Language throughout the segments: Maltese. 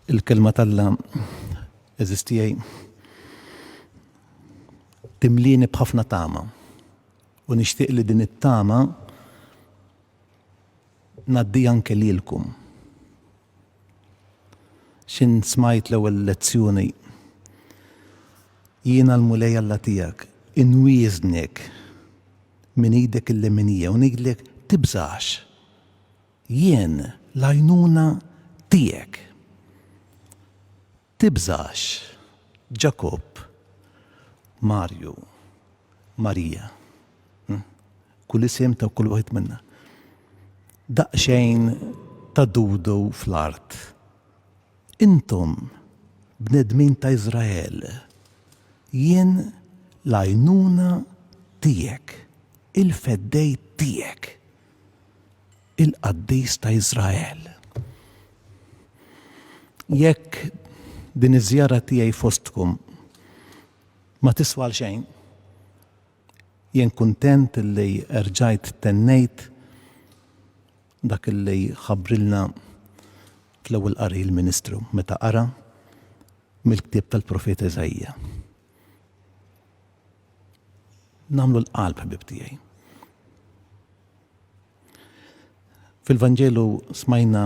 il-kelma tal-la eżistijaj timlini bħafna tama. U nixtieq li din it-tama naddi anke lilkom. X'in smajt l-ewwel lezzjoni? Jiena l-Mulej Alla tiegħek, inwieżnek minn idek il-leminija u ngħidlek, tibżax! Jien l-għajnuna tiegħek. Tibżax, Ġakobb, Marju, Marija, kull isem ta' kull wieħed minna. Daqsxejn ta' dudu fl-art. Intom, bnedmin ta' Iżrael, jien l-għajnuna tiegħek, il-feddej tiegħek. il-Qaddis ta' Iżrael. Jekk din iż-żjara tiegħi fostkom ma tiswa għal xejn, jien kuntent li erġajt tennejt dak li ħabbrilna fl-ewwel qari l-ministru meta qara mill-ktieb tal-profeta Iżaija. Nagħmlu l-qalb ħbieb tiegħi. Fil-Vanġelu smajna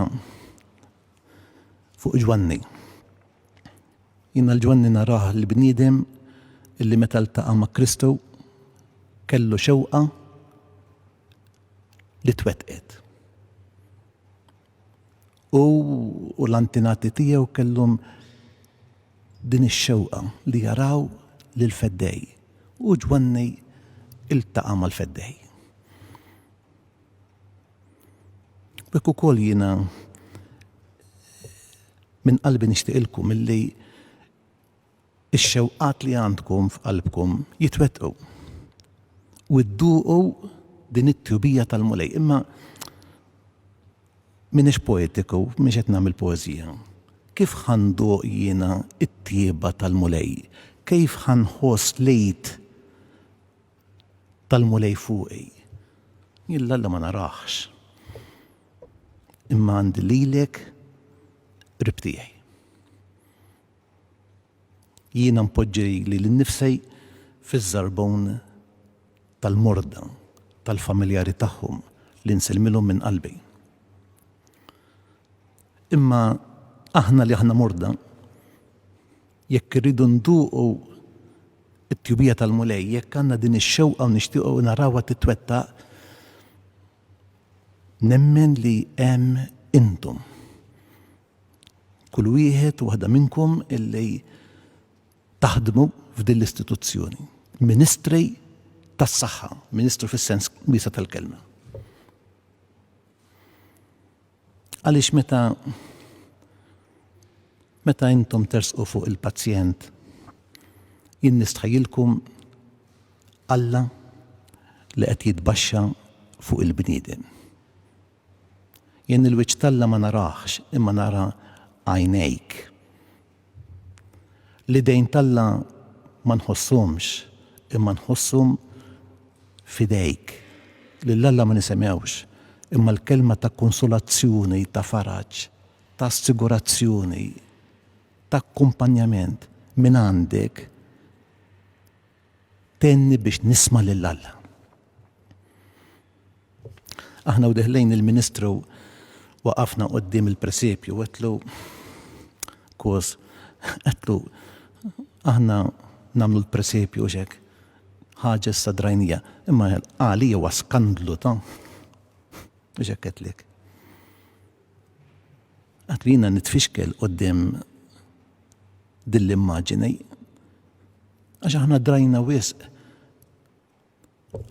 fuq Ġwanni. Jina l-Ġwanni narah l-bniedem illi meta ltaqa' ma' Kristu kellu xewqa li twettqet. u l-antinati tiegħu kellhom din ix-xewqa li jaraw lil Feddej u Ġwanni iltaqa' mal-Feddej. B'hekk ukoll jiena minn qalbi nixtieqilkom illi Ix-xewqat li għandkom f'qalbkom jitwettqu u dduqu din it-tjubija tal-Mulej. Imma m'iniex poetiku, m'iniex qed nagħmel poeżija. Kif ħa nduq jiena t-tjieba tal-Mulej? Kif ħa nħoss l-id tal-Mulej fuqi? Jien 'l Alla ma narahx, imma għandi lilek qrib tiegħi. Jiena npoġġi lili nnifsi fiż-żarbun tal-morda tal-familjari tagħhom li nsellmilhom minn qalbi. Imma aħna li aħna morda, jekk irridu nduqu t-tjubija tal-Mulej, jekk għandna din ix-xewqa u nixtiequ narawha titwettaq, nemmen li hemm intom. kull wieħed u waħda minnkom illi taħdmu f'din l-istituzzjoni. Ministri tas-saħħa, ministru fis-sens wiesa' tal-kelma. Għaliex meta meta intom tersqu fuq il-pazjent jien nistħajilkom Alla li qed jitbaxxa fuq il-bniedem. Jien il-wiċċ t'Alla ma narahx, imma nara għajnejk. L-idejn t'Alla ma nħosshomx, imma nħosshom f'idejk. Lil Alla ma nisimgħux, imma l-kelma ta' konsolazzjoni, ta' faraġ, ta' assigurazzjoni, ta' akkumpanjament mingħandek, Tenni biex nisma' lil Alla. Aħna u deħlin il-ministru waqafna quddiem il-presepju u għedtlu, Kos, għedtlu, aħna nagħmlu l-presepju għax hekk, ħaġa issa drajnija, imma għalija huwa skandlu ta' għax hekk għedtlek. Qatt jiena nitfixkel quddiem din l-immaġini, għax aħna drajna wisq.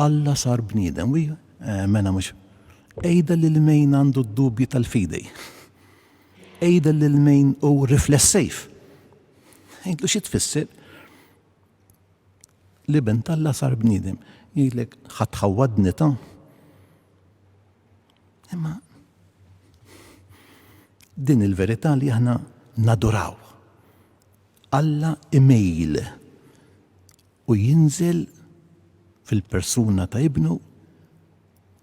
Alla sar bniedem, wi? Eh, mela mhux. Għidha lil min għandu d-dubji tal-fidi. Għidha lil min hu riflessiv. Għidlu xi tfisser l-Iben t'Alla sar bniedem. Jgħidlek ħadd ħawwadni ta'. Imma din il-verità li aħna naduraw. Alla imejl u jinżel fil-persuna ta' Ibnu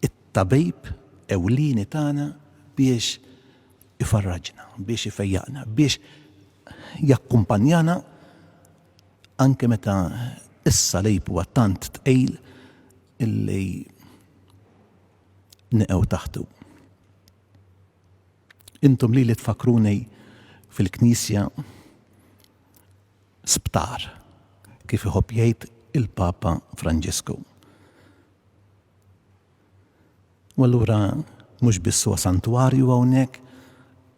it-tabib ewlieni tagħna biex ifarraġna, biex ifejjaqna, biex jakkumpanjana anke meta s-salib huwa tant tqil illi neqgħu taħtu. Intom li li tfakruni fil-Knisja sptar kif iħobb jgħid il-Papa Franġisku. U allura mhux biss huwa santwarju hawnhekk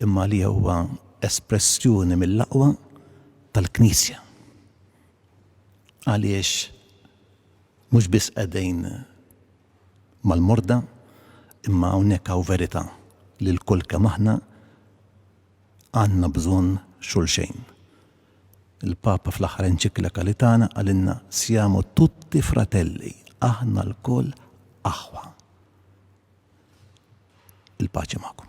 imma li huwa espressjoni mill-aqwa tal-Knisja. Għaliex mhux biss qegħdin mal-morda imma hawnhekk hawn verità li lkoll kemm aħna għandna bżonn xulxejn. Il-Papa fl-aħħar enċiklika li tana qalilna Siamo tutti fratelli, aħna lkoll aħwa. Il-paċi magħkom.